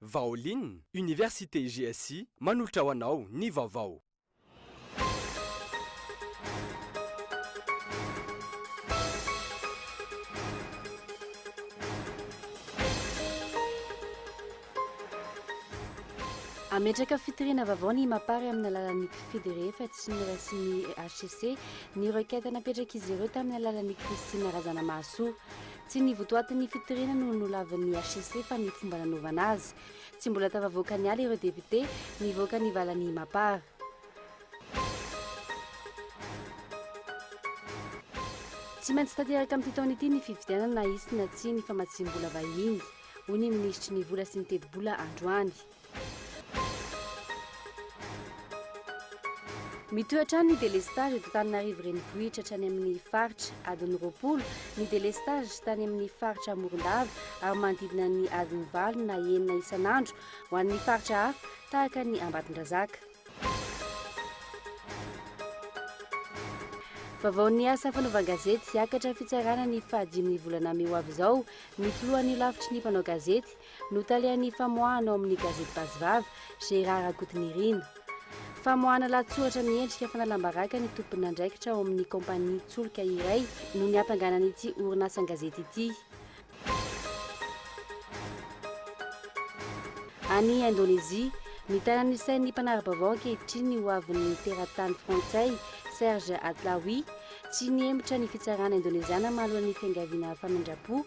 Vaolin, Université GSI manolotra ho anao ny vaovao. Hametraka fitoriana vaovao ny Mapar amin'ny alalan'ny mpifidy rehefa tsy noraisin'ny HCC ny requête napetrak'izy ireo tamin'ny alalan'i Christine Razanamahasoa. Tsy ny votoatin'ny fitoriana no nolavin'ny hcc fa ny fomba nanaovana azy. Tsy mbola tafavoaka ny ala ireo depiote, nivoaka ny valan'ny Mapar. Tsy maintsy tanteraka amin'ity taona ity ny fifidianana na hisy na tsia ny famatsiam-bola vahiny, hoy ny minisitry ny Vola sy ny tetibola androany. Mitohy hatrany ny delestazy eto Antananarivo renivohitra hatrany amin'ny faritra adiny roapolo, ny delestazy tany amin'ny faritra Morondava ary manodidina ny adiny valo na enina isan'andro ho an'ny faritra hafa tahaka ny Ambatondrazaka. Vaovaon'ny asa fanaovan-gazety, hiakatra fitsarana ny fahadimy ny volana mey ho avy izao ny filohan'ny Holafitry ny mpanao gazety, Notalehan'ny famoahana ao amin'ny gazety Basivava, Gérard Rakotonirina. Famoahana lahatsoratra miendrika fanalam-baraka ny tomponandraikitra ao amin'ny kaompania tsolika iray no niatanganana ity orinasan-gazety ity. Any Indonezia, mitana ny sain'ny mpanara-baovao ankehitriny ny hoavin'ny teratany frantsay Serge Atlaoui. Tsy nihemotra ny fitsarana indoneziana mahaloa ny fiangaviana famindram-po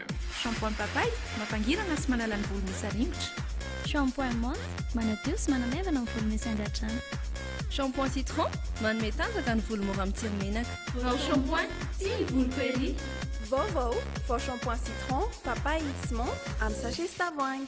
Shampoing Papay, mampangirana sy manala ny volo misaringotra. Shampoing Menthe, manadio sy manamaivana ny volo misy angadrano. Shampoing Citron, manome tanjaka ny volo mora mitsiry menaka. Vao Shampoing, tia ny voloko ery! Vaovao, vao Shampoing Citron, Papay sy Menthe amin'ny sachet sy tavoahangy.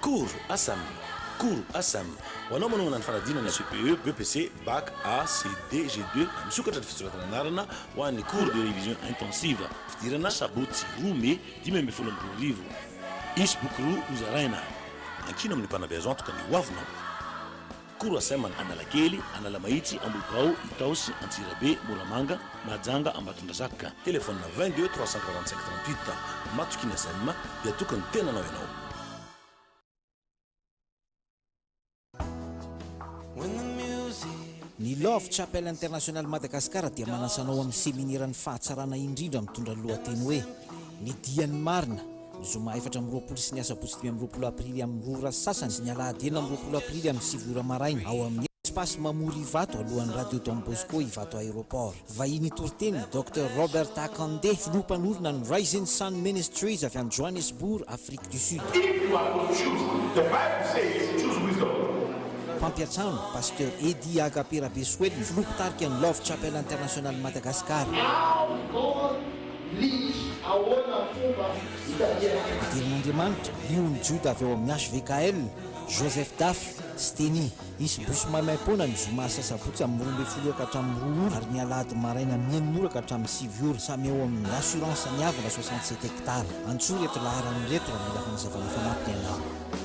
Cours Asam Cours Asam Ho anao manohana ny fanadinana CPE, BEPC, Bac, AC, D, G2, misokatra ny fisoratana anarana ho an'ny Cours de Révision Intensive, fidirana Sabotsy roa Mey dimy ambin'ny folo amby roa arivo. Hisy boky roa hozaraina. Ankino amin'ny mpanabe azo antoka ny hoavinao. Couracem an Analakely, Analamahitsy, Ambohibao, Itaosy, Antsirabe, Moramanga, Mahajanga, Ambatondrazaka. Téléphone 22 345 38. Matoky ny Asem dia toky ny tenanao ianao. Ny Love Chapel International Madagascar dia manasa anao amin'ny Seminera ny fahatsarana indrindra mitondra ny lohateny hoe Ny Dian'ny Marina, Ny zoma efatra amby roapolo sy ny asabotsy dimy amby roapolo aprily amin'ny roa ora sy sasany sy ny alahady enina amby roapolo aprily amin'ny sivy ora maraina ao amin'ny Espace Mamory Ivato alohan'ny Radio Don Bosco Ivato Aéroport. Vahiny hitoriteny, Docteur Robert Akande, filoha mpanorina ny Rising Sun Ministries avy any Johannesburg, Afrique du Sud. If you are to choose, the bible says, choose wisdom. Mpampiantrano, Pasteur Eddy Agape Rabesoelina, filoha mpitarika ny Love Chapel International Madagascar. How God Link, Ahoana ny fomba itadihan'ny Andriamanitra? Andriamanitra, Io ny Joda avy ao amin'ny HVKL, Joseph Dafy, Steny. Hisy bosy maimaim-poana ny zoma sy asabotsy amin'ny roa ambin'ny folo ora ka hatramin'ny roa ora ary ny alahady maraina amin'ny enina ora ka hatramin'ny sivy ora samy ao amin'ny Assurance Ny Avana soixante sept hectares. Antsoy ireto laharana ireto raha mila fanazavana fanampiny ianao.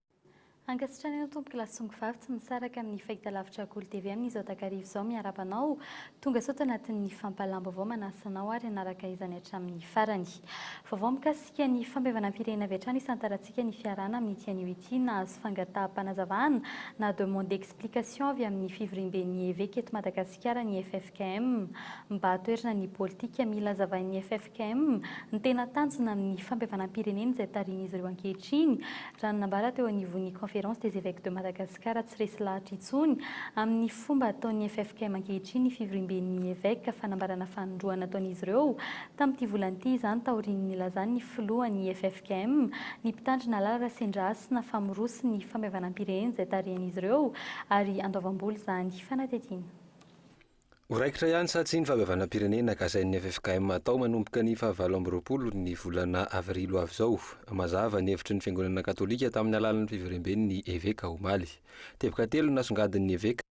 Ankasitrana anao tompoko lasongo vavy tsy misaraka amin'ny fahitalavitra Goly TV amin'izao takariva izao miarahaba anao tonga sao tanatin'ny fampahalam-baovao manasa anao ary hanaraka izany hatramin'ny farany vaovao mikasika ny fampihavanam-pirenena avy hatrany hisantarantsika ny fiarahana amin'ity anio ity nahazo fangataham-panazavana na demande d'explication avy amin'ny fivoriamben'ny eveka eto Madagasikara ny FF Km, mba toerana ny politika mila hazavain'ny ffkm ny tena tanjona amin'ny fampihavanam-pirenena izay tarihin'izy ireo ankehitriny, raha ny nambara teo anivon'ny Conférence des Evêques de Madagascar tsy resy lahatra intsony amin'ny fomba ataon'ny ffkm ankehitriny ny fivoriamben'ny eveka fanambarana fanindroany nataon'izy ireo tamin'ity volana ity izany taorian'ny nilazan'ny filohan'ny ffkm ny mpitandrina lalana Rasendrahasina fa miroso ny fampihavanam-pirenena izay tarihan'izy ireo ary andoavam-bola izany fanatetiana Ho raikitra ihany sa tsia ny fahabevanam-pirenena kasain'ny ffkm hatao manomboka ny fahavalo amby roapolo ny volana avrily ho avy izao? Mazava ny hevitry ny fiangonana katolika tamin'ny alalan'ny fiverimben'ny eveka omaly. Teboka telo no nasongadin'ny eveka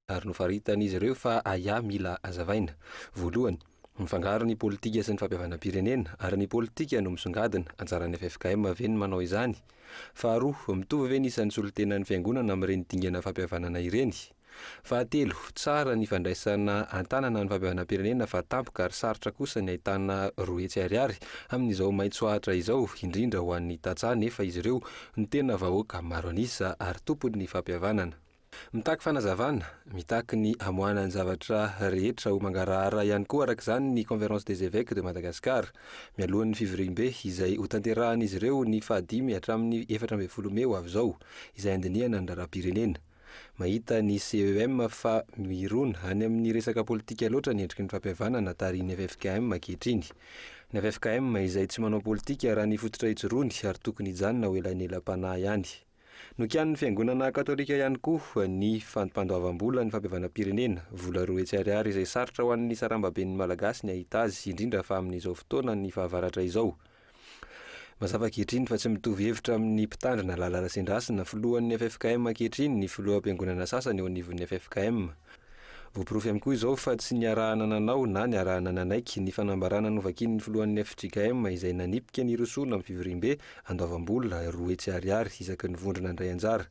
ary nofaritan'izy ireo fa ahiahy mila hazavaina. Voalohany, mifangaro ny politika sy ny fahabevanam-pirenena ary ny politika no misongadina, anjaran'ny ffkm ve ny manao izany? Faharoa, mitovy ve ny isan'ny solontenan'ny fiangonana amin'ireny dingana fampihavanana ireny? Fahatelo, tsara ny fandraisana an-tanana ny fampihavanam-pirenena fa tampoka ary sarotra kosa ny ahitana roa hetsy ariary amin'izao maitso ahitra izao, indrindra ho an'ny tantsaha nefa izy ireo no tena vahoaka maro an'isa ary tompon'ny fampihavanana. Mitaky fanazavana, mitaky ny hamoahana ny zavatra rehetra ho mangarahara ihany koa araka izany ny Conférence des Évêques de Madagascar, mialohan'ny fivoriambe izay hotanterahan'izy ireo ny fahadimy hatramin'ny efatra ambin'ny folo mey ho avy izao, izay handinihana ny raharaham-pirenena. Mahita ny CEM fa mirona any amin'ny resaka politika loatra ny endriky ny fampihavanana tarihin'ny ffkm ankehitriny. Ny ffkm izay tsy manao politika raha ny fototra ijoroany ary tokony hijanona ho elanelam-panahy ihany. Nokianin'ny fiangonana katolika ihany koa ny fampandoavam-bola ny fampihavanam-pirenena, vola roa hetsy ariary izay sarotra ho an'ny sarambaben'ny Malagasy ny hahita azy indrindra fa amin'izao fotoanan'ny fahavaratra izao. Mazava ankehitriny fa tsy mitovy hevitra amin'ny Mpitandrina Lala Rasendrasina, filohan'ny ffkm ankehitriny, ny filoham-piangonana sasany eo anivon'ny ffkm. Voaporofo ihany koa izao fa tsy niarahana nanao na niarahana nanaiky ny fanambarana novakian'ny filohan'ny fjkm izay nanipika ny hirosoana amin'ny fivoriambe andoavam-bola roa hetsy ariary isaky ny vondrona handray anjara.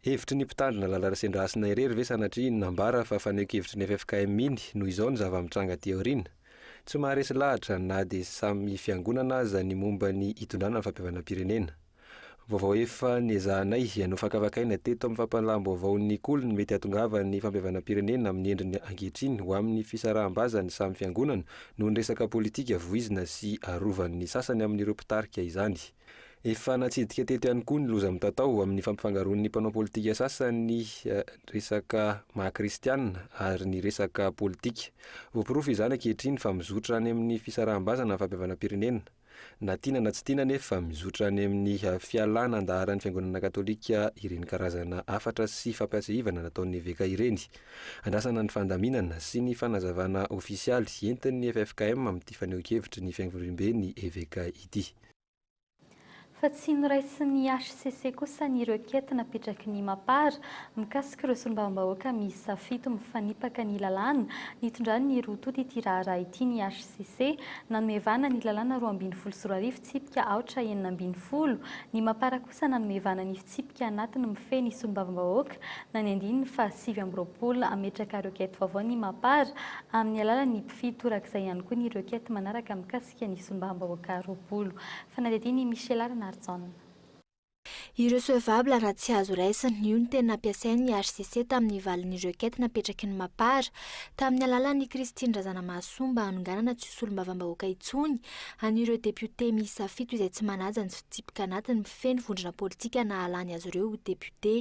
Hevitry ny Mpitandrina Lala Rasendrasina irery ve sanatria nambara fa faneho-kevitry ny ffkm iny noho izao ny zava-mitranga aty aoriana? Tsy maharesy lahatra na dia samy fiangonana aza ny momba ny hitondrana ny fampihavanam-pirenena. Vaovao efa niezahanay nofakafakaina teto amin'ny fampahalalam-baovao ny koliny mety hahatongavan'ny fampihavanam-pirenena amin'ny endriny ankehitriny ho amin'ny fisaraham-bazan'ny samy fiangonana noho ny resaka politika voizina sy arovan'ny sasany amin'ireo mpitarika izany. Efa natsidika teto ihany koa ny loza mitatao amin'ny fampifangaroan'ny mpanao politika sasany ny resaka maha kristiana ary ny resaka politika. Voaporofo izany ankehitriny fa mizotra any amin'ny fisaraham-bazana ny fampihavanam-pirenena. Na tiana na tsy tiana anefa, mizotra any amin'ny fialana an-daharan'ny fiangonana katolika ireny karazana hafatra sy fampihaseivana nataon'ny eveka ireny. Andrasana ny fandaminana sy ny fanazavana ofisialy entin'ny ffkm amin'ity fanehoan-kevitry ny fiangorim-be ny eveka ity. Fa tsy noraisin'ny hcc kosa ny requête napetraky ny Mapar mikasika ireo solombavambahoaka miisa fito mifanipaka ny lalàna nitondran'ny roa tonta ity raharaha ity ny hcc nanome vahana ny lalàna roa ambin'ny folo sy roa arivo tsipika aotra enina ambin'ny folo ny Mapar kosa nanome vahana ny fitsipika anatiny mifehy ny solombavambahoaka na ny andininy faha sivy amby roapolo hametraka requête vaovao ny Mapar amin'ny alalan'ny mpify torak'izay ihany koa ny requête manaraka mikasika mikasika ny simbam-bahoaka roapolo. Fanadihadian'i Michela Ranarijaona. Irrecevable raha tsy azo raisina, io no teny nampiasain'ny hcc tamin'ny valin'ny requête napetraky ny Mapar, tamin'ny alalan'i Christine Razanamahasoa mba hanonganana tsy ho solombavambahoaka intsony an'ireo depiote miisa fito izay tsy manaja ny fitsipika anatiny mifehy ny vondrona politika nahalany azy ireo ho depiote.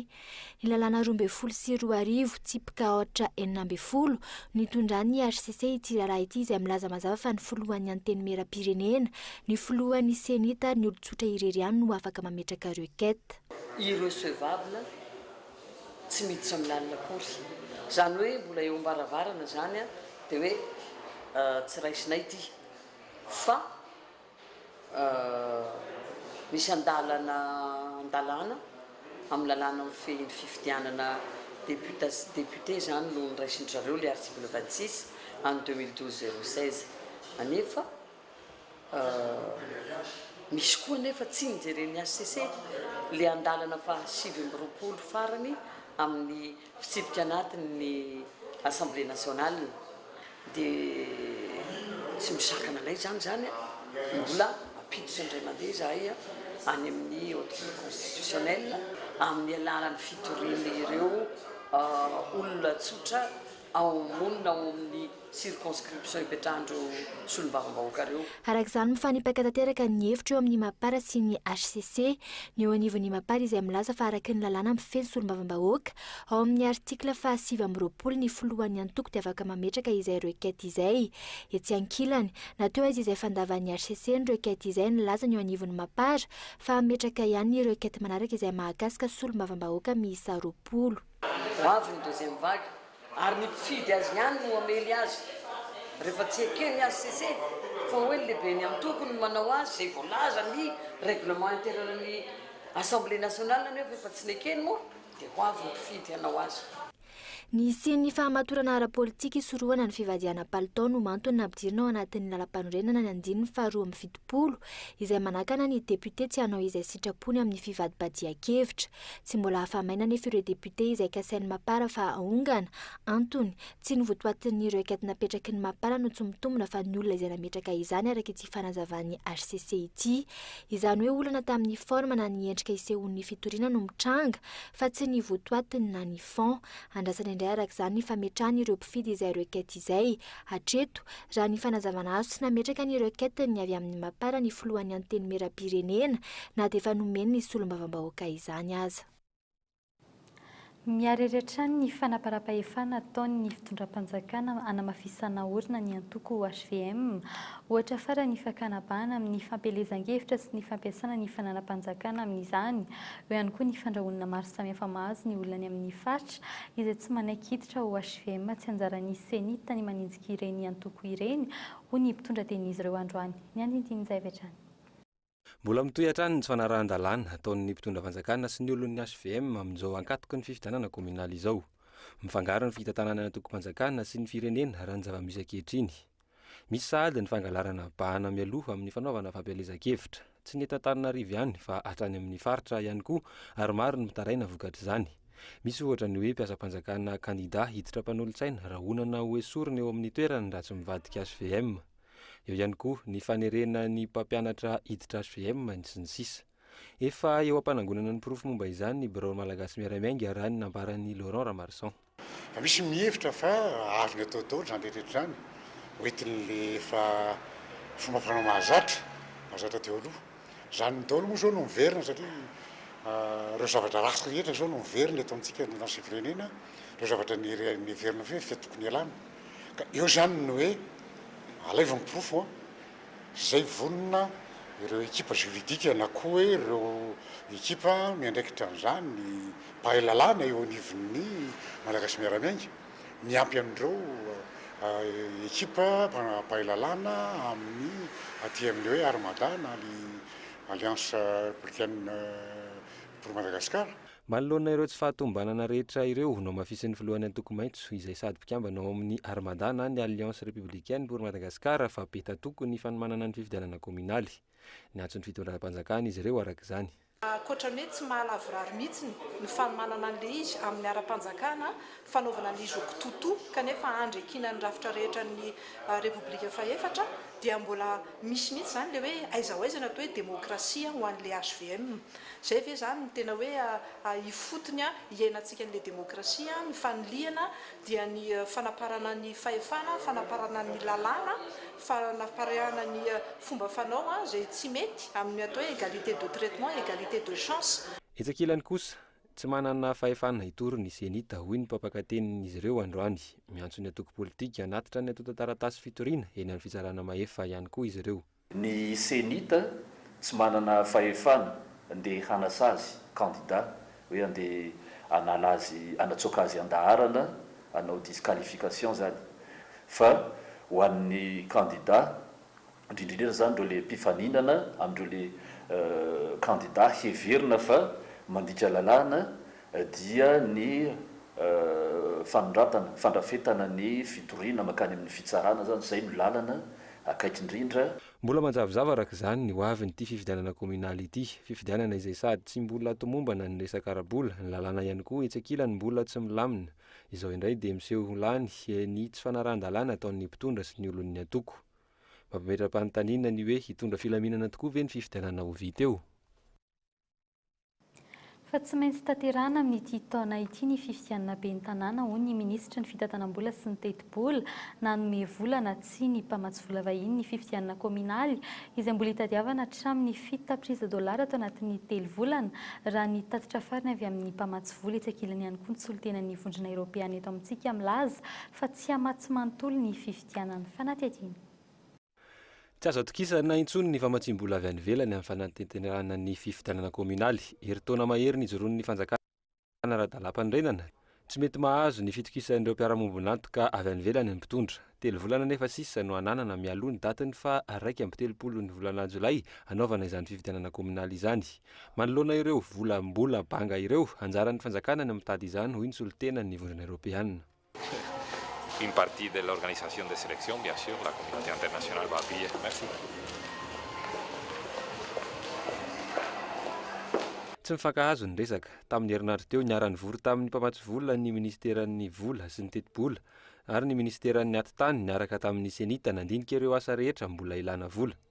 Ny lalàna roa ambin'ny folo sy roa arivo, tsipika aotra enina ambin'ny folo, no itondran'ny hcc ity raharaha ity izay milaza mazava fa ny filohan'ny Antenimierampirenena, ny filohan'ny CENI-T ary ny olon-tsotra irery ihany no afaka mametraka requête. Irrecevable, tsy miditra amin'ny lalina akory. Izany hoe mbola eo am-baravarana izany dia hoe tsy raisinay ity fa. misy andalana andalana amin'ny lalàna mifehy ny fifidianana depiote sy député izany no noraisin-dry zareo ilay article vingt six an'ny deux mille douze zéro seize anefa misy koa anefa tsy nijeren'ny hcc ilay andalana fahasivy amby roapolo farany amin'ny Fitsipika anatin' ny Assemblée nationale dia tsy misakana anay izany izany a! Mbola mampiditra indray mandeha izahay any amin' ny Haute Cour constitutionnelle amin' ny alalan' ny fitorian' ireo olona tsotra ao am-monina ao amin' ny circonscription ipetrahan'ireo solombavambahoaka ireo. Araka izany, mifanipaka tanteraka ny hevitra eo amin'ny Mapar sy ny hcc ny eo anivon'ny Mapar izay milaza fa araky ny lalàna mifehy ny solombavambahoaka ao amin'ny article faha sivy amby roapolo ny filohan'ny antoko dia afaka mametraka izay requête izay etsy ankilany na teo aiza izay fandavan'ny hcc ny requête izay nilaza ny eo anivon'ny Mapar fa hametraka ihany ny requête manaraka izay mahakasika solombavambahoaka miisa roapolo. Ho avy ny deuxième vague ary ny mpifidy azy ihany no hamely azy. Rehefa tsy eken'ny hcc fa hoe ny lehiben'ny antoko no manao azy izay voalazan'ny règlement intérieur ny assemblée nationale anefa efa tsy nekeny moa dia ho avy ny mpifidy hanao azy. Ny hisian'ny fahamatorana ara-politika hisorohana ny fivadihana palitao no antony nampidirina ao anatin'ny lalampanorenana ny andininy faha roa amby fitopolo izay manakana ny député tsy hanao izay sitrapony amin'ny fivadibadihan-kevitra. Tsy mbola afa-maina anefa ireo députés izay kasain'ny Mapar fa haongana. Antony, tsy ny votoatin'ny requête napetraky ny Mapar no tsy mitombina fa ny olona izay nametraka izany araka ity fanazavan'ny hcc ity. Izany hoe olana tamin'ny forme na ny endrika isehoan'ny fitoriana no mitranga fa tsy ny votoatiny na ny fond. Andrasana indray araka izany ny fametrahana ireo mpifidy izay requête izay. Hatreto, raha ny fanazavana azo tsy nametraka ny requête ny avy amin'ny Mapar ny filohan'ny Antenimierampirenena na dia efa nomeny ny solombavambahoaka izany aza. Miharihary hatrany ny fanaparapahefana ataon'ny fitondram-panjakana hanamafisana orina ny antoko hvm. Ohatra farany ny fakana bahana amin'ny fampielezan-kevitra sy ny fampiasana ny fananam-panjakana amin'izany. Eo ihany koa ny fandrahonana maro samihafa mahazo ny olona any amin'ny faritra. izay tsy manaiky hiditra ao HVM, tsy anjaran'ny CENI-T ny maninjika ireny antoko ireny, hoy ny mpitondra tenin'izy ireo androany. Ny andinindin'izay avy hatrany. Mbola mitohy hatrany ny tsy fanarahan-dalàna ataon'ny mpitondra fanjakana sy ny olon'ny HVM amin'izao ankatoky ny fifidianana kaominaly izao. Mifangaro ny fitantanana ny antokom-panjakana sy ny firenena raha ny zava-misy ankehitriny. Misy sahady ny fangalarana bahana mialoha amin'ny fanaovana fampielezan-kevitra, tsy ny eto Antananarivo ihany fa hatrany amin'ny faritra ihany koa ary maro ny mitaraina vokatr'izany. Misy ohatra ny hoe mpiasam-panjakana kandida hiditra mpanolotsaina rahonana ho esorina eo amin'ny toerany raha tsy mivadika HVM. Eo ihany koa ny fanerena ny mpampianatra hiditra HVM, sy ny sisa Efa eo am-panangonana ny porofo momba izany ny Birao Malagasy Miara-miainga raha ny nambaran'i Laurent Ramarison. Fa misy ny mihevitra fa azony atao daholo izany rehetra rehetra izany, hoentin'ilay efa fomba fanao mahazatra, mahazatra teo aloha. Izany daholo moa izao no miverina satria ireo zavatra ratsy rehetra izao no miverina eto amintsika eto anivon'ny firenena, ireo zavatra niheverina fa efa tokony hialana. Ka eo izany ny hoe alaivo ny porofo. izay vonona ireo ekipa juridique na koa hoe ireo ekipa miandraikitra an'izany, ny mpahay lalàna eo anivon'ny Malagasy Miara-Miainga, miampy an'ireo ekipa mpahay lalàna amin'ny aty amin'ny hoe Armada na ny Alliance Africaine pour Madagascar. Manoloana ireo tsy fahatomombanana rehetra ireo, nohamafisin'ny filohan'ny Antoko Maitso, izay sady mpikambana ao amin'ny Armada na ny Alliance Républicaine pour Madagascar fa be tatoky ny fanomanana ny fifidianana kaominaly. Niantso ny fitondram-panjakana izy ireo araka izany. Ankoatra ny hoe tsy mahalavorary mihitsy ny fanomanana an'ilay izy amin'ny ara-panjakana fanaovana ny zoky Tutu kanefa andriakina ny rafitra rehetra ny Repoblika fahefatra dia mbola misy mihitsy izany ilay hoe aiza ho aiza ny atao hoe demokrasia ho an'ilay hvm. Izay ve izany no tena hoe ifotony hiainantsika an'ilay demokrasia, ny fanilihana dia ny fanaparana ny fahefana, fanaparana ny lalàna, fanaparana ny fomba fanao izay tsy mety amin'ny atao hoe egalite de traitement, egalite de chance. Etsy ankilany kosa, Tsy manana fahefana hitory ny Zenith, hoy ny mpampakatenin'izy ireo androany. Miantso ny antoko politika hanatitra ny antontan-taratasy fitoriana eny amin'ny Fitsarana Mahefa ihany koa izy ireo. Ny Zenith tsy manana fahefana ndeha hanasazy kandida hoe andeha hanala azy, hanatsoaka azy an-daharana, hanao disqualification izany, fa ho an'ny kandida indrindra indrindra izany ireo le mpifaninana amin'ireo le kandida heverina fa mandika lalàna, dia ny fanondratana, fandrafetana ny fitoriana mankany amin'ny fitsarana izany, izay no lalana akaiky indrindra. Mbola manjavozavo araka izany ny hoavin'ity fifidianana kaominaly ity, fifidianana izay sady tsy mbola tomombana ny resaka ara-bola, ny lalàna ihany koa etsy ankilany mbola tsy milamina, izao indray dia miseho ho lany ny tsy fanarahan-dalàna ataon'ny mpitondra sy ny olon'ny antoko. Mampametra-panontaniana ny hoe hitondra filaminana tokoa ve ny fifidianana ho vita eo? Fa tsy maintsy tanterahana amin'ity taona ity ny fifidianana ben'ny tanàna, hoy ny minisitry ny fitantanam-bola sy ny tetibola. Nanome vola na tsia ny mpamatsy vola vahiny ny fifidianana kaominaly, izay mbola hitadiavana hatramin'ny fito tapitrisa dolara tao anatin'ny telo volana, raha ny tatitra farany avy amin'ny mpamatsy vola etsy ankilany ihany koa ny solontenan'ny Vondrona Eoropeana eto amintsika milaza fa tsy hamatsy manontolo ny fifidianana ny fanatediana. Tsy azo atokisana intsony ny famatsiam-bola avy any ivelany amin'ny fanantenterahana ny fifidianana kaominaly. Herintaona mahery nijoroan'ny fanjakana ara-dalàmpanorenana. Tsy mety mahazo ny fitokisan'ireo mpiara-mombon'antoka avy any ivelany ny mpitondra. Telo volana nefa sisa no ananana mialoha ny datin'ny faha iraika amby telopolo ny volana jolay hanaovana izany fifidianana kaominaly izany. Manoloana ireo vola mbola banga ireo, anjaran'ny fanjakana ny mitady izany, hoy ny solontenan'ny Vondrona Eoropeana. une partie de l'organisation des sélections bien sûr la communauté internationale va appuyer merci Tsy nifankahazo ny resaka. Tamin'ny herinandro teo, niara-nivory tamin'ny mpamatsy vola ny minisiteran'ny Vola sy ny Tetibola ary ny minisiteran'ny Atitany niaraka tamin'ny CENI-T nandinika ireo asa rehetra mbola ilàna vola.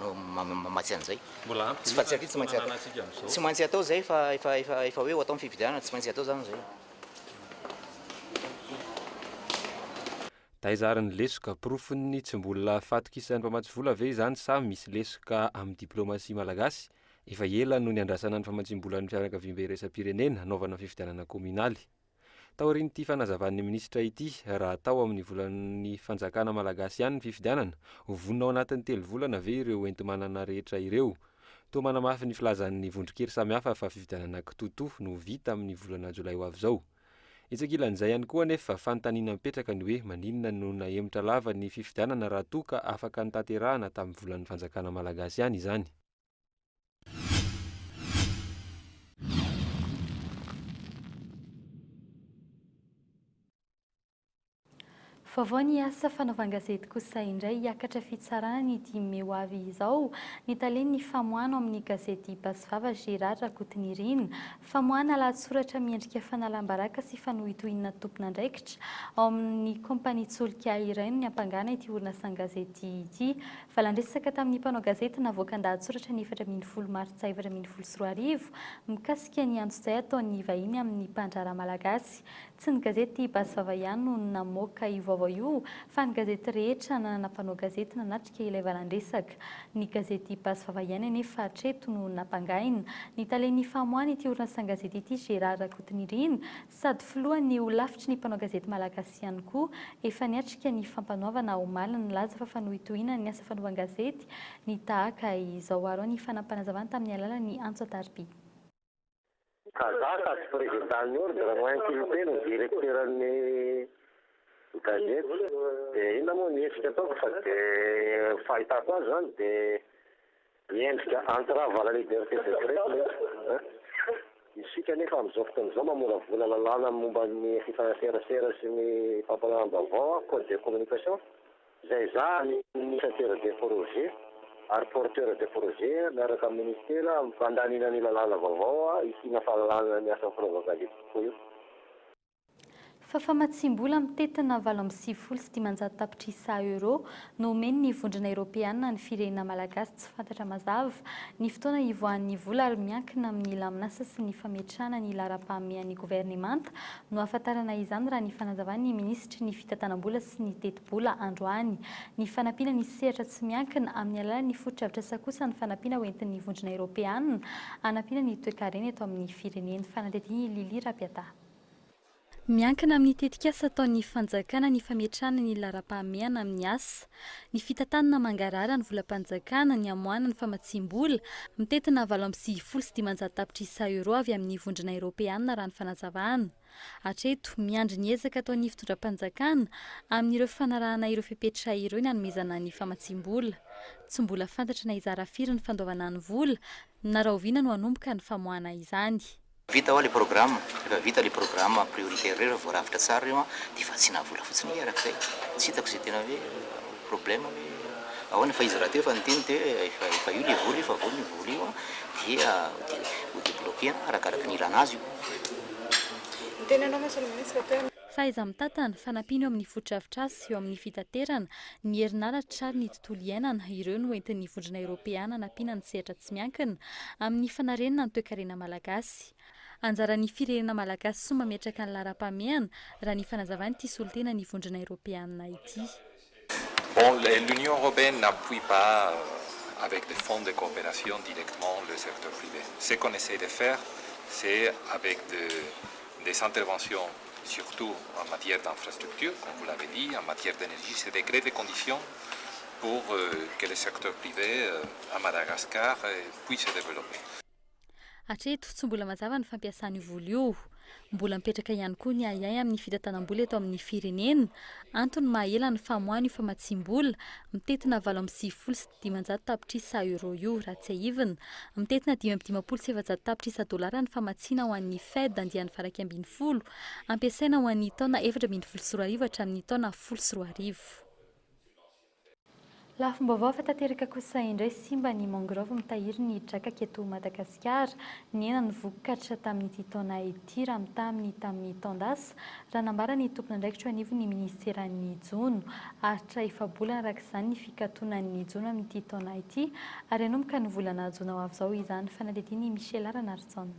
no mamatsy an'izay. Mbola ampy betsaka ny fananantsika amin'izao. Tsy maintsy atao izay fa efa efa efa hoe ho atao ny fifidianana, tsy maintsy atao izany izay. Taiza ary ny lesoka? Porofon'ny tsy mbola fahatokisan'ny mpamatsy vola ve izany sa misy lesoka amin'ny diplomasia malagasy? Efa ela no niandrasana ny famatsiam-bolan'ny fianakaviam-be iraisam-pirenena hanaovana fifidianana kaominaly. Taorian'ity fanazavan'ny minisitra ity, raha tao amin'ny volan'ny fanjakana malagasy ihany ny fifidianana, ho vonona ao anatin'ny telo volana ve ireo enti-manana rehetra ireo? Toa manamafy ny filazan'ny vondron-kery samihafa fa fifidianana kitoatoa no ho vita amin'ny volana jolay ho avy izao. Etsy ankilan'izay ihany koa anefa, fanontaniana mipetraka ny hoe maninona no nahemotra lava ny fifidianana raha toa ka afaka notanterahana tamin'ny volan'ny fanjakana malagasy ihany izany? Vaovao ny asa fanaovan-gazety kosa indray hiakatra fitsarana ny dimy mey ho avy izao ny talen'ny famoahana ao amin'ny gazety Basy Vava Gérard Rakotonirina. Famoahana lahatsoratra miendrika fanalam-baraka sy fanohitohinana tompon'andraikitra ao amin'ny kaompania solika iray no niampangana ity orinasan-gazety ity Valan-dresaka tamin'ny mpanao gazety navoakan-dahatsoratra ny efatra ambin'ny folo martsa efatra ambin'ny folo sy roa arivo mikasika ny antsojay ataon'ny vahiny amin'ny mpandraharaha malagasy. Tsy ny gazety Basy Vava ihany no namoaka io vaovao io fa ny gazety rehetra nanana mpanao gazety nanatrika ilay valan-dresaka. Ny gazety Basy Vava ihany anefa hatreto no nampangaina. Ny talen'ny famoahana ity orinasan-gazety ity, Gérard Rakotonirina, Sady filohan'ny Holafitry ny Mpanao Gazety Malagasy ihany koa, efa niatrika ny Fampanoavana omaly nilaza fa fanohitohinany ny asa fanaovan-gazety ny tahaka izao ary ao ny fanampim-panazavana tamin'ny alalan'ny antso an-tarobia. Kazaka sy Prezidan'ny Ordre Moins Culté no Direkteran'ny Gazety dia inona moa ny hetsika ataoko fa dia ny fahitako azy izany dia. Miendrika entrave à la liberté de greffe ilay izy. Isika anefa amin'izao fotoana izao mamoravola lalàna momba ny fifaneraserasera sy ny fampianaram-baovao, code de communication, izay ezahan'ny initiateur de projet ary porteur de projet miaraka amin'ny minisitera mandaniana ny lalàna vaovao hisiana fahalalana ny asan'ny Pro-Vavalia kokoa io. fa famatsiam-bola mitentina valo amby sivifolo sy dimanjato tapitrisa Euro no omen'ny Vondrona Eropeana ny firenena malagasy tsy fantatra mazava ny fotoana hivoahan'ny vola ary miankina amin'ny lamin'asa sy ny fametrahana ny laharam-pahamehan'ny governemanta no ahafantarana izany raha ny fanazavan'ny minisitry ny fitantanam-bola sy ny tetibola androany ny fanampiana ny sehatra tsy miankina amin'ny alalan'ny fotodrafitrasa kosa ny fanampiana hoentin'ny Vondrona Eropeana hanampiana ny toekarena eto amin'ny firenena Fanadihadiana i Lily Rapiata. Miankina amin'ny tetikasa ataon'ny fanjakana ny fametrahana ny laharam-pahamehana amin'ny asa, ny fitantanana mangarahara ny volam-panjakana, ny hamoahana ny famatsiam-bola, mitentina valo amby sivifolo sy dimanjato tapitrisa euros avy amin'ny Vondrona Eoropeana, raha ny fanazavana. Hatreto, miandry ny ezaka ataon'ny fitondram-panjakana amin'ireo fanarahana ireo fepetra ireo ny hanomezana ny famatsiam-bola. Tsy mbola fantatra na hizara firy ny fandoavana ny vola na rahoviana no hanomboka ny famoahana izany. Vita oa le programme, refa vita le programme prioritaire reo refa voarafitra tsara reo an de vatsiana vola fotsiny ee araka zay, tsy hitako ze tena oe problème oe ahoana fa izy rahateo efa niteny te oe efa io le vola io fa vonona io vola io an dia ho debloquer arakaraka ny ilana azy io. Miteny anao monsieur le ministre te. Fahaiza-mitatana, fanampiana eo amin'ny fotodrafitrasa sy eo amin'ny fitaterana, ny herinaratra ary ny. tontolo iainana ireo no entin'ny Vondrona Eoropeana hanampiana ny sehatra tsy miankina amin'ny fanarenana ny toekarena malagasy. Anjaran'ny firenena malagasy soa mametraka ny laharam-pahamehana, raha ny fanazavan'ity solontenan'ny Vondrona Eoropeana ity. Bon, l'Union Européenne n'appuie pas avec des fonds de coopération directement le secteur privé. Ce qu'on essaie de faire, c'est avec des interventions. surtout en matière d'infrastructures, comme vous l'avez dit, en matière d'énergie, c'est de créer des conditions pour que le secteur privé à Madagascar puisse se développer. Hatreto, tsy mbola mazava ny fampiasana io vola io. Mbola mipetraka ihany koa ny ahiahy amin'ny fitantanam-bola eto amin'ny firenena. Antony maha ela ny famoahana io famatsiam-bola, mitentina valo amby sivifolo sy dimanjato tapitrisa euro io, raha tsiahivina. Mitentina dimy amby dimampolo sy efajato tapitrisa dolara ny famatsiana ho an'ny Fed andiany varaika ambin'ny folo, hampiasaina ho an'ny taona efatra ambin'ny folo sy roa arivo hatramin'ny taona folo sy roa arivo. Lafim-baovao efa tanteraka kosa indray, simba ny mangrove mitahiry ny drakaka eto Madagasikara. Madagasikara, nihena ny vokatra tamin'ity taona ity raha mitaha amin'ny tamin'ny taon-dasa, raha nambara ny tompon'andraikitra eo anivon'ny minisiteran'ny Jono. Haharitra efa-bolana araka izany ny fikatonan'ny jono amin'ity taona ity, ary hanomboka ny volana jona ho avy izao izany, fanadihadian'i Michela Ranarijaona.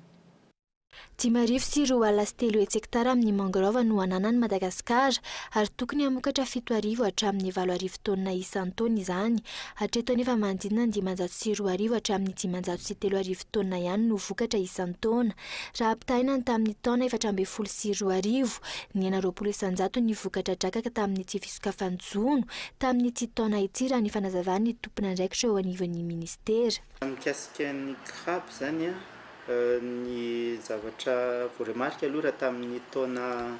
Dimy arivo sy roa ala sy telo hetsy hektara amin'ny mangrove no ananan'i Madagasikara, ary tokony hamokatra fito arivo hatramin'ny valo arivo taonina isan-taona izany. Hatreto anefa manodidina ny dimanjato sy roa arivo hatramin'ny dimanjato sy telo arivo taonina ihany no vokatra isan-taona. Raha ampitahaina ny tamin'ny taona efatra ambin'ny folo sy roa arivo, nihena roapolo isan-jato ny vokatra drakaka tamin'ity fisokafan'ny jono tamin'ity taona ity, raha ny fanazavan'ny tompon'andraikitra eo anivon'ny minisitera. Mikasika ny crabe izany an. Ny zavatra vao remarque aloha raha tamin'ny taona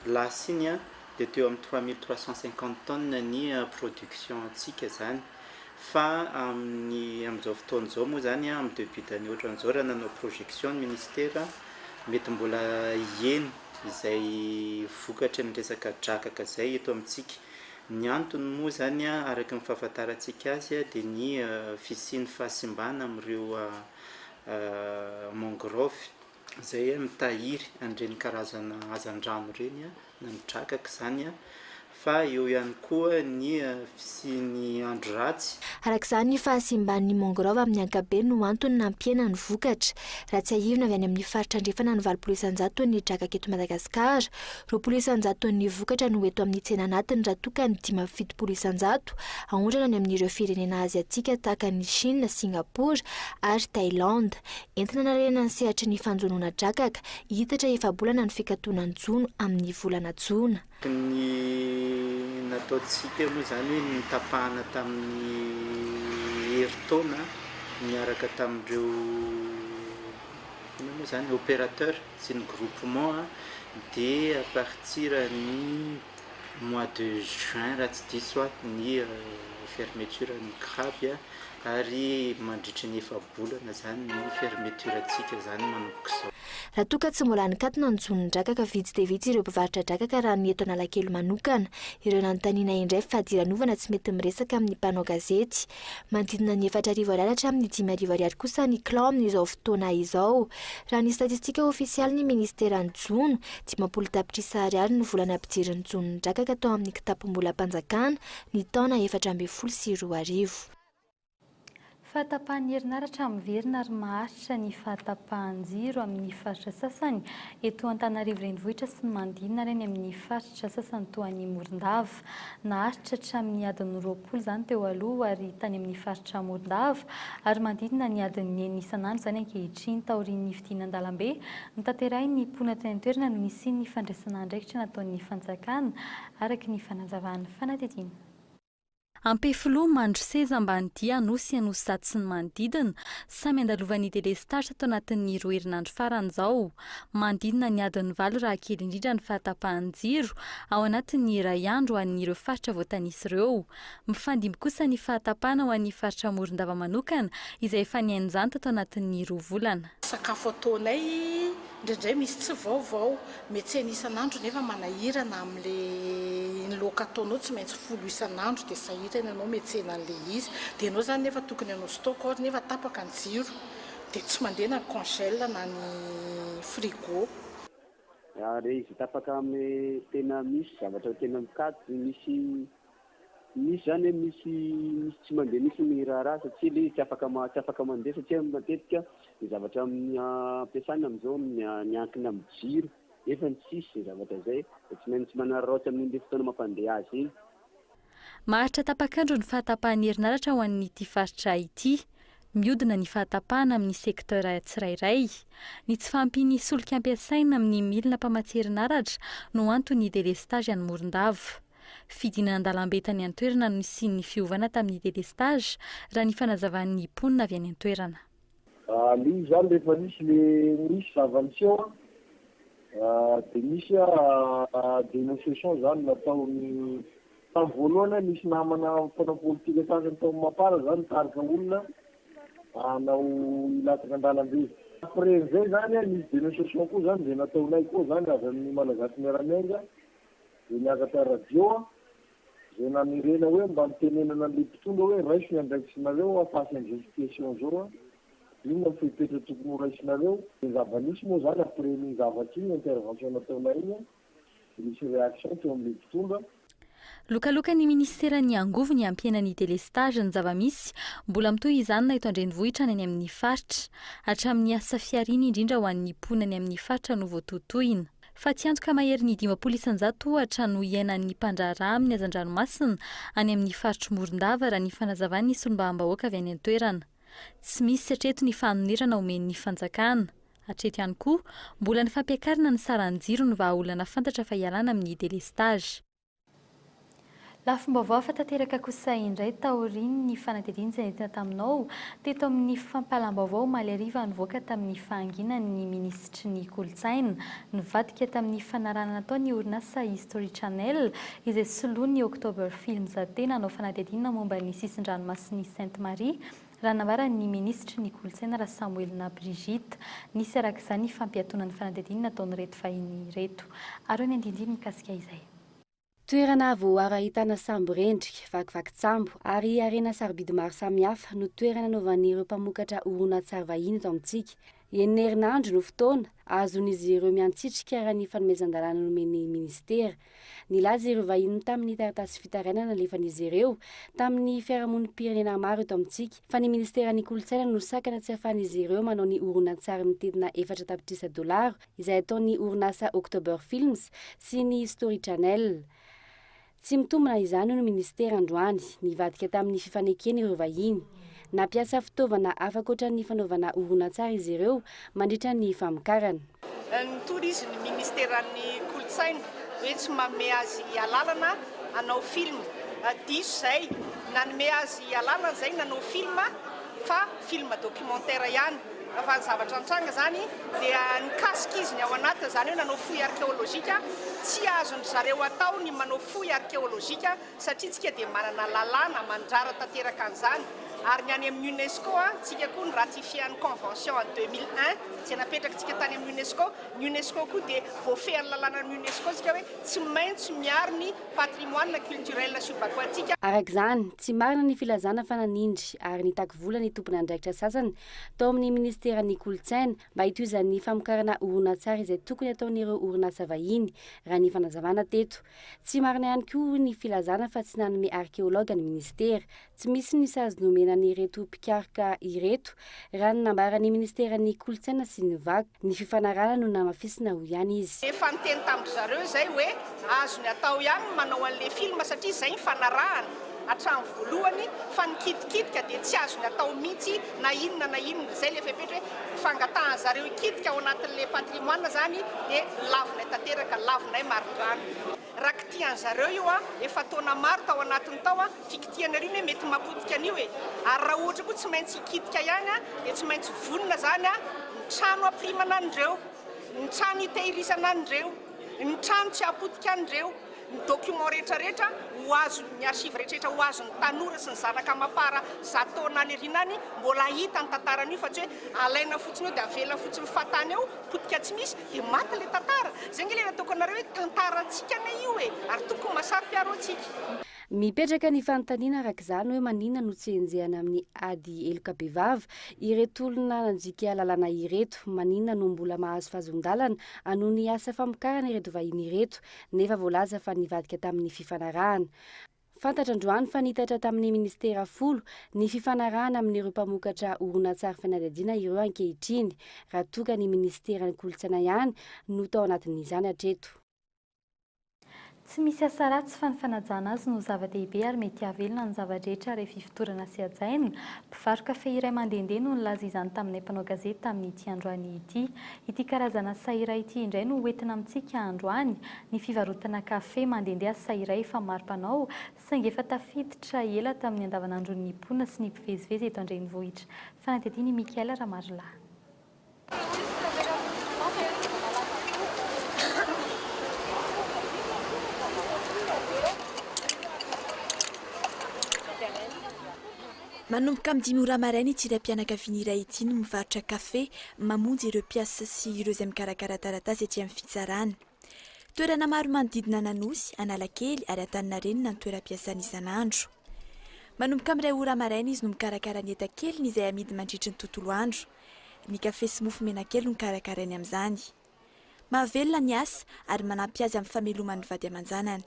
lasa iny dia teo amin'ny trois mille trois cent cinquante tonnes ny production antsika izany fa amin'ny amin'izao fotoana izao moa izany amin'ny debut d'année ohatran'izao raha nanao projection ny ministera mety mbola hiheno izay vokatry ny resaka drakaka izay eto amintsika. Ny antony moa izany araka ny fahafantarantsika azy dia ny fisian'ny fahasimbana amin'ireo mangrove izay mitahiry an'ireny karazana hazandrano ireny na ny drakaka izany fa eo ihany koa ny fisian'ny andro ratsy. Araka izany, ny fahasimban'ny mangrove amin'ny ankapobeny no antony nampihena ny vokatra. Raha tsiahivina, avy any amin'ny faritra andrefana ny valopolo isanjaton'ny drakaka eto Madagasikara, Roapolo isanjato ton'ny vokatra no eto amin'ny tsena anatiny raha toa ka ny dimy amby fitopolo isanjato aondrana any amin'ireo firenena Aziatika tahaka an'i Shina, Singapore ary Thailand. Entina hanarenana ny sehatry ny fanjonoana drakaka, hihitatra efa-bolana ny fikatonan-jono amin'ny volana jona. Ny natao tsy teo moa izany hoe ny notapahana tamin'ny herintaona niaraka tamin'ireo, inona moa izany, opérateur, sy ny groupement dia à partir ny mois de juin raha tsy diso aho ny fermeture ny crabe a, ary mandritry ny efa-bolana izany ny fermeture ntsika izany manomboka izao. Raha toa ka tsy mbola nikatona ny jono ny drakaka, vitsy dia vitsy ireo mpivarotra drakaka raha ny eto Analakely manokana. Ireo nanontaniana indray fadiranovana tsy mety miresaka amin'ny mpanao gazety. Manodidina ny efatra arivo ariary hatramin'ny dimy arivo ariary kosa ny kilao amin'izao fotoana izao. Raha ny statistika ofisialin'ny ministeran'ny jono, dimampolo tapitrisa ariary no vola nampidirin'ny jono nidrakaka tao amin'ny kitapom-bolam-panjakana ny taona efatra ambin'ny folo sy roa arivo. Fahatapahan'ny herinaratra miverina ary maharitra ny fahatapahan-jiro amin'ny faritra sasany eto Antananarivo Renivohitra sy ny manodidina ary any amin'ny faritra sasany toa an'i Morondava. Naharitra hatramin'ny adiny roapolo izany teo aloha ary tany amin'ny faritra Morondava ary manodidina ny adiny enina isan'andro izany ankehitriny taorian'ny fidina an-dalambe notanterahin'ny mponina teny an-toerana no nisian'ny fandraisana andraikitra nataon'ny fanjakana araka ny fanazavan'ny fanadihadiana Ampefiloha mandroseza ambany dia Anosy Anosy Zato sy ny manodidina samy andalovan'ny delestazy tao anatin'ny roa herinandro farany izao. manodidina ny adiny valo raha kely indrindra ny fahatapahan'ny jiro ao anatin'ny iray andro ho an'ireo faritra voatanisa ireo. Mifandimby kosa ny fahatapahana ho an'ny faritra Morondava manokana izay efa nihain'izany tato anatin'ny roa volana. Sakafo ataonay, indraindray misy tsy vaovao, metsena isan'andro nefa manahirana amin'ilay iny loaka ataonao tsy maintsy folo isan'andro dia sahirana ianao metsena an'ilay izy dia ianao izany nefa tokony hanao stock or nefa tapaka ny jiro Dia tsy mandeha na ny congel na ny frigo. Ary izy tapaka amy tena misy zavatra tena mikajy misy misy zany hoe misy misy tsy mandeha mihitsy ny raharaha satsia le izy tsy afaka ma tsy afaka mandeha satsia matetika ny zavatra amy ampiasana amizao ny miankina amy jiro nefa ny tsisy zavatra zay de tsy maintsy manararaotra amy le fotoana mampandeha azy iny. Maharitra tapak'andro ny fahatapahan'ny herinaratra ho an'ity faritra ity. Mihodina ny fahatapahana amin'ny secteur tsirairay. Ny tsy fahampian'ny solika ampiasaina amin'ny milina mpamatsy herinaratra no anton'ny délestage any Morondava. Fidinana an-dalambe tany an-toerana no nisian'ny fiovana tamin'ny délestage, raha ny fanazavan'ny mponina avy any an-toerana. Aleo izany rehefa nisy le nisy zava-niseho dia nisy dénonciation izany nataon'ny, tamin'ny voalohany nisy namana mpanao politika sasany tao Mapar izany nitarika olona hanao hilatsaka an-dalambe. Après an'izay izany nisy dénonciation koa izany izay nataonay koa izany avy amin'ny Malagasy Miara-Miainga dia niakatra radio Zay nanerena hoe mba nitenenana anle mpitondra hoe raiso ny andraikisinareo a face anzao situation zao a inona ny fepetra tokony ho raisinareo de zava nisy moa zany après iny zavatra iny intervention nataonay iny de nisy reaction teo amle mpitondra Lokalokan'ny Minisitera ny angovo ny hampiena ny délestage ny zava-misy, mbola mitohy izany na eto an-drenivohitra na any amin'ny faritra. Hatramin'ny asa fihariana indrindra ho an'ny mponina any amin'ny faritra no voatotoina. fa tsy antoka maherin'ny dimampolo isanjato ohatra no iainan'ny mpandraharaha amin'ny hazan-dranomasina any amin'ny faritr'i Morondava raha ny fanazavan'ny solombavambahoaka avy any an-toerana. Tsy misy hatreto ny fanonerana omen'ny fanjakana. Hatreto ihany koa, mbola ny fampiakarana ny saran'ny jiro no vahaolana fantatra fa ialana amin'ny delestazy. Lafim-baovao hafa tanteraka kosa indray taorian'ny fanadihadiana izay nentina taminao teto amin'ny fampahalam-baovao omaly hariva nivoaka tamin'ny fahanginan'ny minisitry ny kolontsaina nivadika tamin'ny fanarahana natao ny orinasa History Channel izay soloan'ny October Films tena hanao fanadihadiana momba ny sisin-dranomasin'i Sainte Marie Raha nambaran' ny minisitry ny Kolontsaina Rasamoelina Brigitte, nisy araka izany fampiatoana ny fanadihadiany nataon'ireto vahiny ireto. Aroy ny andindiny mikasika izay. Toerana voaaro ahitana sambo rendrika, vakivakitsambo, ary harena sarobidy maro samihafa no toerana nanaovan'ireo mpamoka-tra horonantsary vahiny eto amintsika. Enina herinandro no fotoana azon'izy ireo miantsitrika raha ny fanomezan-dalàna nomen'ny minisitera. Nilaza ireo vahiny tamin'ny taratasy fitarainana nalefan'izy ireo tamin'ny fiarahamonim-pirenena maro eto amintsika fa ny minisiteran'ny kolontsaina no sakana tsy ahafahan'izy ireo manao ny horonantsary mitedina efatra tapitrisa dolaro izay ataon'ny orinasa October Films sy ny Story Channel Tsy mitombina izany hoy ny minisitera androany, nivadika tamin'ny fifanekena ireo vahiny. Nampiasa fitaovana hafakoatran'ny fanaovana horonantsary izy ireo mandritra ny famokarana. Nitory izy ny minisiteran'ny kolontsaina hoe tsy manome azy alalana hanao film. Diso izay, nanome azy alalana izay nanao film. fa film documentaire ihany fa ny zavatra nitranga zany dia nikasika izy ny ao anaty izany hoe nanao fouille archéologique tsy azon-dry zareo atao ny manao fouille archéologique satria tsika dia manana lalàna mandrara tanteraka an'izany ary ny any amin'ny UNESCO tsika koa ny ratifier ny convention en 2001 izay napetraka tsika tany amin'ny UNESCO ny UNESCO koa dia voafehin'ny lalànan'ny UNESCO tsika hoe tsy maintsy miaro ny patrimoine culturel subaquatique. Araka izany, tsy marina ny filazana fa nanindry ary nitaky vola ny tomponandraikitra sasany tao amin'ny Minisiteran'ny Kolontsaina mba hitohizan'ny famokarana horonantsary izay tokony ataon'ireo orinasa vahiny, raha ny fanazavana teto. Tsy marina ihany koa, hoy ny filazana, fa tsy nanome arkeologa ny Minisitera. Tsy misy ny sazy nomena an'ireto mpikaroka ireto, raha ny nambaran'ny Ministeran'ny Kolontsaina sy ny Vakoka. Ny fifanarahana no namafisina, hoy ihany izy. Efa niteny tamin-dry zareo izay hoe azony atao ihany ny manao an'ilay film satria izay ny fanarahana hatramin'ny voalohany fa ny kitikitika dia tsy azony atao mihitsy na inona na inona. Izay ilay fepetra hoe fangatahan'ny zareo hikitika ao anatin'ilay patrimoine izany dia lavinay tanteraka, lavinay marindrano. Raha kitihan zareo io a efa taona maro tao anatiny tao a fikitihana ry ny hoe mety mapotika an'io e ary raha ohatra koa tsy maintsy hikitika ihany a dia tsy maintsy vonona zany a ny trano hapirimana an'ireo ny trano hitehirizana an'ireo ny trano tsy hapotika an'ireo ny document rehetra rehetra ho azo ny archive rehetra rehetra ho azo ny tanora sy ny zanaka amafara zato taona any aoriana any mbola hahita ny tantara an'io fa tsy hoe alaina fotsiny eo dia avela fotsiny fatany eo potika tsy misy dia maty ilay tantara, izay ange ilay nataoko anareo hoe tantarantsika anie io e! ary tokony masaro-piaro antsika. Mipetraka ny fanontaniana araka izany hoe maninona no tsy enjehana amin'ny ady heloka bevava ireto olona nandika lalàna ireto, maninona no mbola mahazo fahazon-dalana hanohy ny asa famokarana ireto vahiny ireto nefa voalaza fa nivadika tamin'ny fifanarahana. Fantatra androany fa nitatra tamin'ny minisitera folo ny fifanarahana amin'ireo mpamokatra horonantsary fanadihadiana ireo ankehitriny, raha toa ka ny minisiteran'ny kolontsaina ihany no tao anatin'izany hatreto. Tsy misy asa ratsy fa ny fanajana azy no zava-dehibe ary mety hahavelona ny zava-drehetra rehefa ifotorana sy hajaina. Mpivaro-kafe iray mandehandeha no nilaza izany taminay mpanao gazety tamin'ity androany ity. Ity karazana saira ity indray no hoentina amintsika androany. Ny fivarotana kafe mandehandeha asa iray efa maro mpanao, saingy efa tafiditra ela tamin'ny andavanandron'ny mponina sy ny mpivezivezy eto an-drenivohitra. Fanadihadian' i Michael Ramarilahy. Manomboka amin'ny dimy ora maraina ity raim-pianakaviana iray ity no mivarotra kafe mamonjy ireo mpiasa sy ireo izay mikarakara taratasy ety amin'ny fitsarana. Toerana maro manodidina an'Anosy, Analakely ary Antaninarenina no toeram-piasany isan'andro. Manomboka amin'ny iray ora maraina izy no mikarakara ny enta-keliny izay amidy mandritry ny tontolo andro. Ny kafe sy mofo menakely no karakarainy amin'izany. Mahavelona ny asa ary manampy azy amin'ny fameloman'ny vady aman-janany.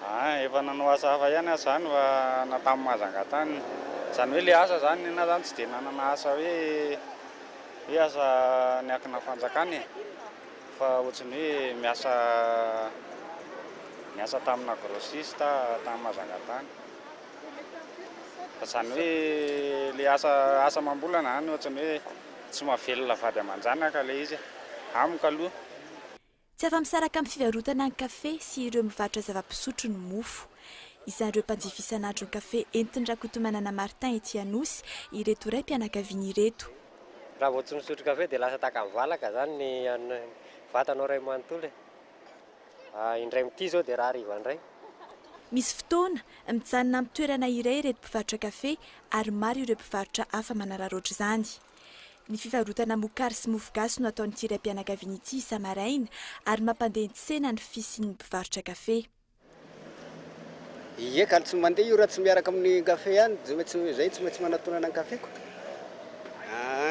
Aah efa nanao asa hafa ihany aza zany fa na tamin'ny Mahajanga tany zany hoe le asa zany nenah zany tsy de nanana asa hoe hoe asa niankina fanjakana e! fa ohatry ny hoe miasa miasa tamina agrossiste aho tany Mahajanga tany fa zany hoe le asa asa amam-bolana zany ohatry ny hoe tsy mahavelona vady aman-janaka le izy e! amiko aloha. Tsy afa-misaraka amin'ny fivarotana ny kafe sy ireo mivarotra zava-pisotro ny mofo. Isan'ireo mpanjifa isan'andro ny kafe entin'i Rakotomanana Martin ety Anosy ireto raim-pianakaviana ireto. Raha vao tsy misotro kafe dia lasa tahaka ny valaka izany ny vatanao iray manontolo e! indray mitia izao dia rahariva indray. Misy fotoana, mijanona amin'ny toerana iray ireto mpivarotra kafe ary maro ireo mpivarotra hafa manararaotra izany. Ny fivarotana mokary sy mofogasy no ataon'ity raim-pianakaviana ity isa-maraina ary mampandeha ny tsena ny fisian'ny mpivarotra kafe. Ie ka tsy mandeha io raha tsy miaraka amin'ny kafe ihany, tsy maintsy izay tsy maintsy manatonana ny kafeko.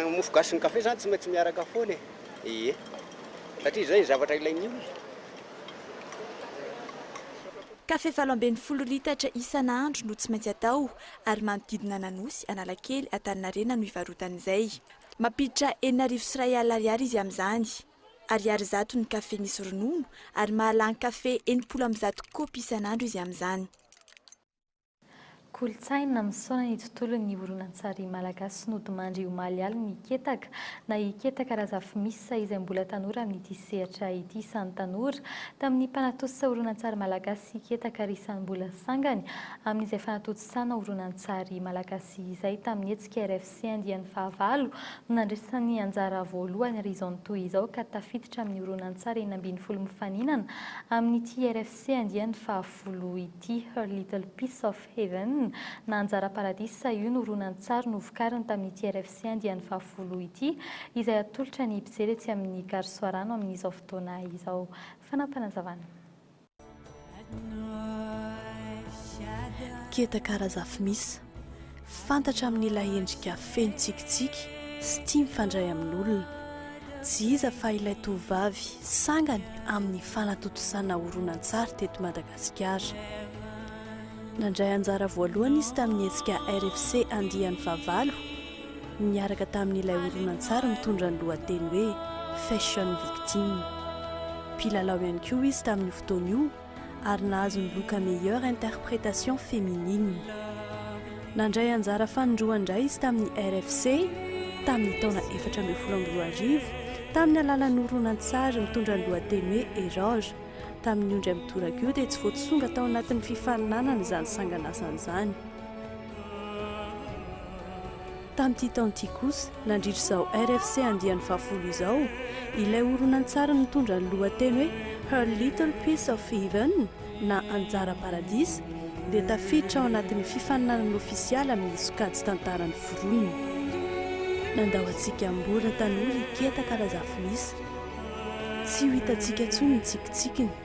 Ny mofogasy sy ny kafe izany tsy maintsy miaraka foana e! Ie, satria izay zavatra ilain'ny olona. Kafe valo ambin'ny folo litatra isan'andro no tsy maintsy atao ary manodidina an'Anosy, Analakely, Antaninarenina no ivarotany izay. Mampiditra enina arivo sy iray alina ariary izy amin'izany. Ariary zato ny kafe misy ronono ary mahalany kafe enimpolo amby zato kaopy isan'andro izy amin'izany. Kolontsaina misaona ny tontolon'ny horonantsary malagasy nodimandry omaly alina i Ketaka, na i Ketaka Razafimissa, izay mbola tanora amin'ity sehatra ity. Samy tanora tamin'ny mpanatosisa horonantsary malagasy. sy ketaka risam-bola sangany amin'izay fanatontosana horonantsary malagasy izay tamin'ny hetsika RFC andiany fahavalo no nandresy ny anjara voalohany ary izao mitohy izao ka tafiditra amin'ny horonantsary enina ambin'ny folo mifaninana amin'ity RFC andiany fahafolo ity Her Little Piece of Heaven na Anjara Paradisa io no horonantsary novokariny tamin'ity RFC andiany fahafolo ity izay atolotra ny mpijery etsy amin'ny Garosoarano amin'izao fotoana izao Fanapanazavana. Keta Karazafmis, fantatra amin'ilay endrika feno tsikitsiky sy tia mifandray amin'olona. Tsy iza fa ilay tovovavy sangany amin'ny fanatontosana horonantsary teto Madagasikara. Nandray anjara voalohany izy tamin'ny hetsika RFC andiany fahavalo, niaraka tamin'ilay horonantsary mitondra ny lohateny hoe Fashion Victim. Mpilalao ihany koa izy tamin'io fotoana io ary nahazo ny loka Meilleure Interprétation Féminine. Nandray anjara fanindroan-dray izy tamin'ny RFC tamin'ny taona efatra ambin'ny folo amby roa arivo tamin'ny alalan'ny horonantsary mitondra ny lohateny hoe Error. Tamin'io indray mitoraka io dia tsy voatsonga tao anatin'ny fifaninanana izany sanganasany izany. Tamin'ity taona ity kosa, nandritra izao RFC andiany fahafolo izao, ilay horonantsary nitondra ny lohateny hoe Her Little Piece of Heaven, na Anjara Paradisa, dia tafiditra ao anatin'ny fifaninanana ofisialy amin'ny sokajy Tantaran'ny Foronina. Nandao antsika mbola tanora i Keta Karazafilisa. Tsy ho hitantsika intsony ny tsikitsikiny.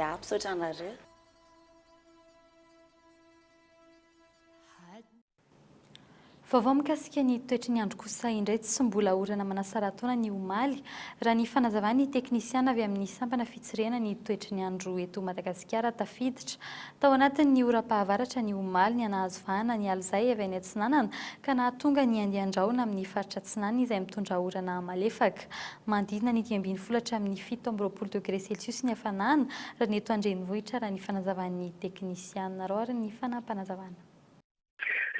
Ya, misaotra anareo. Vaovao mikasika ny toetry ny andro kosa indray tsy mbola orana manasara-taona ny omaly, raha ny fanazavan'ny teknisiana avy amin'ny sampana fitsirihana ny toetry ny andro eto Madagasikara tafiditra Tao anatin'ny oram-pahavaratra ny omaly ny hanahazo vahana ny alizay avy any atsinanana ka nahatonga ny andian-drahona amin'ny faritra atsinanana izay mitondra orana malefaka. Manodidina ny dimy ambin'ny folo hatramin'ny fito amby roapolo degre celsius ny hafanana raha ny eto an-drenivohitra raha ny fanazavan'ny teknisianina. Roariny ny fanapanazavana.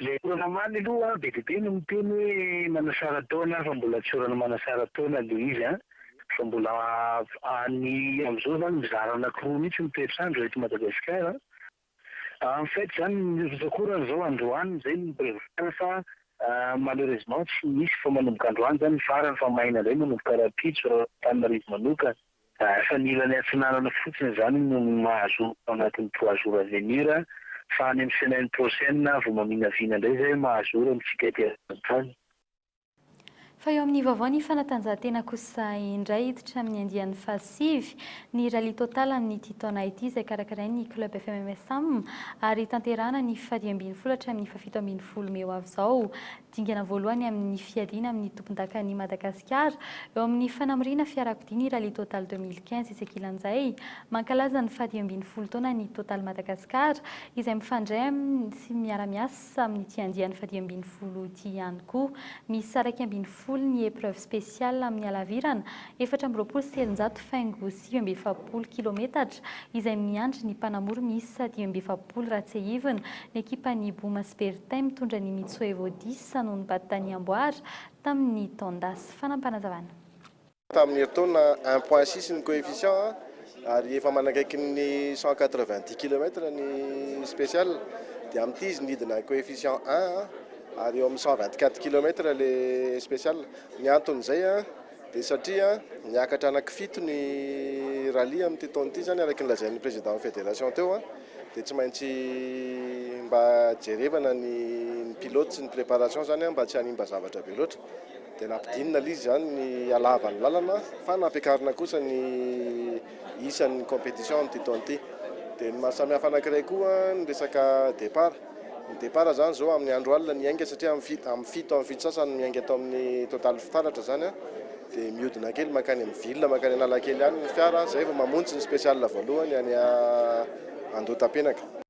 Ilay taona omaly aloha be dia be no miteny hoe manasara taona fa mbola tsy orana manasara taona ilay izy an! fa mbola any amin'izao izany mizara anankiroa mihitsy ny toetr'andro eto Madagasikara an! en fait izany ny rivotra koa raha izao androany izay no mi-prevoir fa malheureusement tsy misy fa manomboka androany izany ny farany fa maina indray manomboka rahampitso raha Antananarivo manokana. Fa ny ilany atsinanana fotsiny izany no mahazo ao anatin'ny trois jours à venir fa any amin'ny semaine prochaine vao maminavina indray izay hoe mahazo ora ny figadrantany. Fa eo amin'ny vaovao ny fanatanjahantena kosa indray hiditra amin'ny andiany fahasivy ny rallye total amin'ity taona ity izay karakarain'ny club FMMSAM ary tanterahana ny fariambinifolo hatramin'ny fahafito ambinifolo mey ho avy izao. Dingana voalohany amin'ny fiadiana amin'ny tompondakan'i Madagasikara eo amin'ny fanamoriana fiarakodia ny Rallye Total deux mille quinze etsy ankilan'izay. Mankalaza ny fahadimy ambin'ny folo taona ny Total Madagascar izay mifandray amin'ny sy miara-miasa amin'ity andiany fahadimy ambin'ny folo ity ihany koa. Misy saraika ambin'ny folo ny épreuves spéciales amin'ny halavirana efatra amby roapolo sy telonjato faingo dimy amby efapolo kilometatra, izay miandry ny mpanamory miisa dimy amby efapolo raha tsiahivina, ny ekipan'i Bouma sy Bertin mitondra an'i Mitsoevo Disa no nibata-tany amboara tamin'ny taon-dasa. Fanampazana. Tamin'ny herintaona, un point six ny coefficient ary efa manakaiky ny cent quatre-vingt-dix kilomètres ny special dia amin'ity izy nidina coefficient un ary eo amin'ny cent vingt-quatre kilomètres ilay special. Ny anton'izay. Dia satria niakatra anankifito ny rallye amin'ity taona ity izany araka ny lazain'ny président-n'ny fédération teo dia tsy maintsy mba jerevana ny ny pilotes sy ny préparation izany mba tsy hanimba zavatra be loatra dia nampidinina aloha izy izany ny halava ny lalana fa nampiakarina kosa ny isan'ny compétition amin'ity taona ity. Dia ny maha samihafa anankiray koa ny resaka départ. Ny départ zany zao amin'ny andro alina ny ainga satria amin'ny fito amin'ny fito amin'ny fito sasany no miainga eto amin'ny total fitaratra zany a, dia mihodina kely mankany amin'ny ville mankany Analakely any ny fiara zay vao mamonjy ny special voalohany any Andohatapenaka.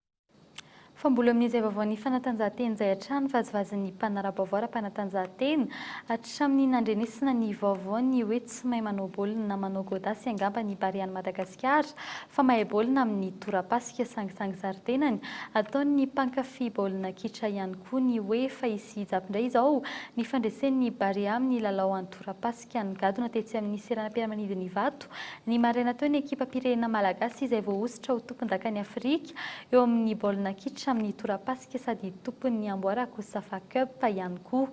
Fa mbola amin'izay vaovaon'ny fanatanjahantena izay hatrany, vazivazin'ny mpanara-baovao ara-panatanjahantena, hatramin'ny nandrenesina ny vaovao ny hoe tsy mahay manao baolina na manao gôdasy angamba ny Barean'i Madagasikara, fa mahay baolina amin'ny torapasika sangisangy zaridainany, ataon'ny mpankafy baolina kitra ihany koa ny hoe fa i Sihijab indray izao nifandresen'ny Barea amin'ny lalao an-torapasika nigadona tetsy amin'ny seranam-piaramanidin'Ivato ny maraina teo ny ekipam-pirenena malagasy izay voahosotra ho tompondakan'i Afrika eo amin'ny baolina kitra amin'ny torapasika sady tompon'ny Amboara Cosafa Cup ihany koa.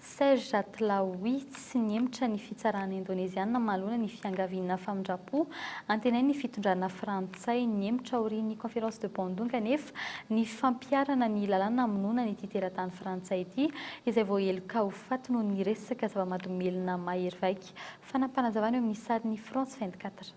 Serge Atlaoui, Tsy nihemotra ny fitsarana indoneziana manoloana ny fiangaviana famindram-po antenain' ny fitondrana frantsay. Nihemotra aorian' ny Conference de Bandung anefa ny fampiharana ny lalàna hamonoana an' ity teratany frantsay ity, izay voaheloka ho faty noho ny resaka zava-mahadomelina mahery vaika. Fanapanazavana eo amin' ny sarin' ny France 24.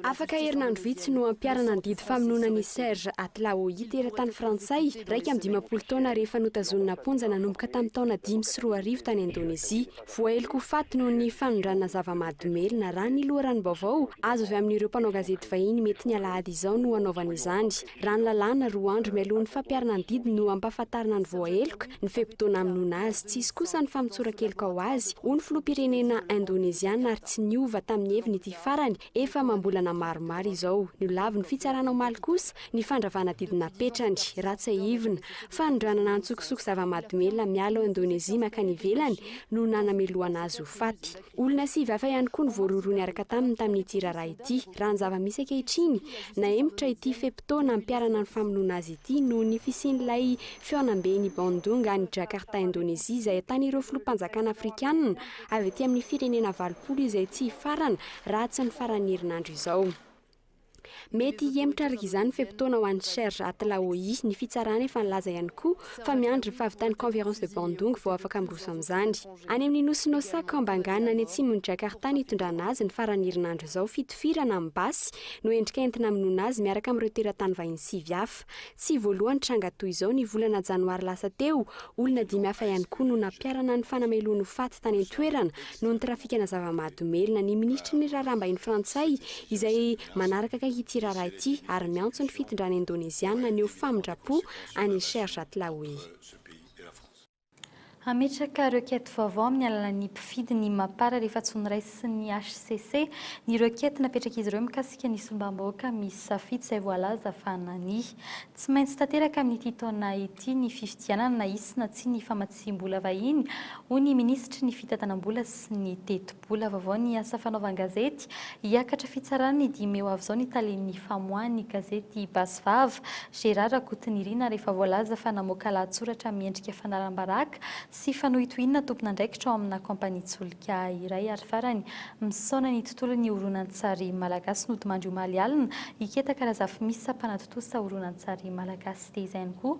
Afaka herinandro vitsy no hampiharana ny didy famonoana an'i Serge Atlaoui, teratany frantsay, iraika amby dimampolo taona rehefa notazonina am-ponja nanomboka tamin'ny taona dimy sy roa arivo tany Indonezia. Voaheloka ho faty noho ny fanondranana zava-mahadomelina, raha ny loharanom-baovao azo avy amin'ireo mpanao gazety vahiny mety ny alahady izao no hanaovany izany. Raha ny lalàna, roa andro mialoha ny fampiharana ny didy no ampahafantarina ny voaheloka ny fe-potoana hamonoana azy. Tsy hisy kosa ny famotsoran-keloka ho azy, hoy ny filoham-pirenena indoneziana ary tsy niova tamin'ny heviny ity farany efa amam-bolana maromaro izao. Nolavin'ny fitsarana omaly kosa ny fandravana didy napetrany, raha tsiahivina. Fanondranana antsokosoko zava-mahadomelina miala ao Indonezia mankany ivelany no nanamelohana azy ho faty. Olona sivy hafa ihany koa no voarohirohy niaraka taminy tamin'ity raharaha ity, raha ny zava-misy ankehitriny. Nahemotra ity fe-potoana hampiharana ny famonoana azy ity noho ny fisian'ilay fihaonamben'i Bandung any Jakarta, Indonezia, izay ahitan'ireo filoham-panjakana afrikanina avy ety amin'ny firenena valopolo izay tsy hifarana raha tsy ny faran'ny herinandro izao. Mety hihemotra araka izany ny fe-potoana ho an'i Serge Atlaoui. Ny fitsarana efa nilaza ihany koa fa miandry ny fahavitan'ny Conference de Bandung vao afaka miroso amin'izany. Any amin'ny nosy Nosa Kambangan any atsimon'i Jakarta no itondrana azy ny faran'ny herinandro izao. Fito firana amin'ny basy no endrika entina hamonoana azy miaraka amin'ireo teratany vahiny sivy hafa. Tsy voalohany tranga toy izao ny volana janoary lasa teo, olona dimy hafa ihany koa no nampiharana ny fanamelohany ho faty tany an-toerana noho ny trafikana zava-mahadomelina ny minisitry ny raharaham-bahiny frantsay izay manaraka akaiky ity raharaha ity ary miantso ny fitondrana indoneziana haneho famindram-po an'i Sherjat Laoui. Hametraka requête vaovao amin'ny alalan'ny mpifidy ny Mapar rehefa tsy noraisy sy ny hcc ny requête napetrak'izy ireo mikasika ny solombavambahoaka misy safidy izay voalaza fa nania. Tsy maintsy tanteraka amin'ity taona ity ny fifidianana na hisy na tsia ny famatsiam-bola vahiny, hoy ny minisitry ny fitantanam-bola sy ny teti-. Mbola vaovao ny asa fanaovan-gazety. Hiakatra fitsarana ny dimy mey ho avy izao ny talen'ny famoahan'ny gazety Basy Vava, Gérard Rakotonirina rehefa voalaza fa namoaka lahatsoratra miendrika fanalam-baraka sy fanohitohinana tompon'andraikitra ao amina kaompanian-tsolika iray ary farany misaona ny tontolon'ny horonantsary malagasy nodimandry omaly alina i Ketaka Razafimisa mpanatontosa horonantsary malagasy dia izany koa